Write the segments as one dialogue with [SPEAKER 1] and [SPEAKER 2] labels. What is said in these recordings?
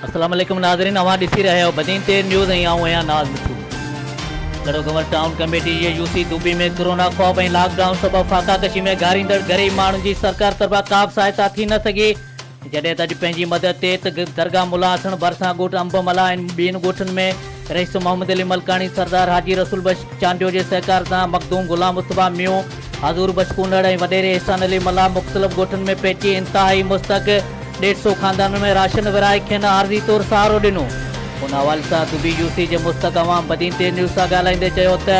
[SPEAKER 1] السلام عليڪم ناظرين اوهان ڏسي رهيا آهيو بدين تير نيوز ۽ آئون آهيان ناز مٺو ڪڙو گهمر ٽائون ڪميٽي جي يو سي دوبي ۾ ڪورونا خوف ۽ لاڪ ڊائون سبب فاقا ڪشي ۾ گهاريندڙ غريب ماڻهن جي سرڪار طرفان ڪابه سهائتا ٿي نه سگهي جڏهن ته اڄ پنهنجي مدد تي ته درگاهه ملا حسڻ ڀرسان ڳوٺ انب ملا ۽ ٻين ڳوٺن ۾ رئيس محمد علي ملڪاڻي، سردار حاجي رسول بخش چانڊيو جي سهڪار سان مخدوم غلام مصطفيٰ ميون، حضور بخش ڪونڙ ۽ وڏيري احسان علي ملاح مختلف ڳوٺن ۾ پهچي انتهائي مستحق ڏيڍ سو خاندانن ۾ راشن ورهائي کين عارضي طور سهارو ڏنو. ان حوالي سان دبي يو سي جي مستحق عوام بدين ٽي نيوز سان ڳالهائيندي چيو ته.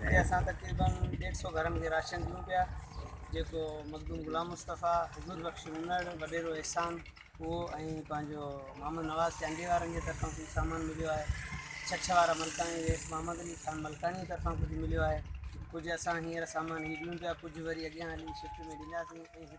[SPEAKER 2] هتي اسان تقريبن
[SPEAKER 3] ڏيڍ سئو گهرن کي راشن ڏيون پيا جيڪو مخدوم غلام مصطفيٰ، حضور بخش منڙ، وڏيرو احسان اهو ۽ پنهنجو محمد نواز چانڊيي وارن جي طرفان ڪجهه سامان مليو آهي. ڇڇ وارا ملڪاڻي ويس محمد علي خان ملڪاڻي جي طرفان ڪجهه مليو آهي. ڪجهه اسان هينئر سامان هي ڏيون پيا ڪجهه وري اڳيان هلي شفٽ ۾ ڏينداسين ۽ هتي.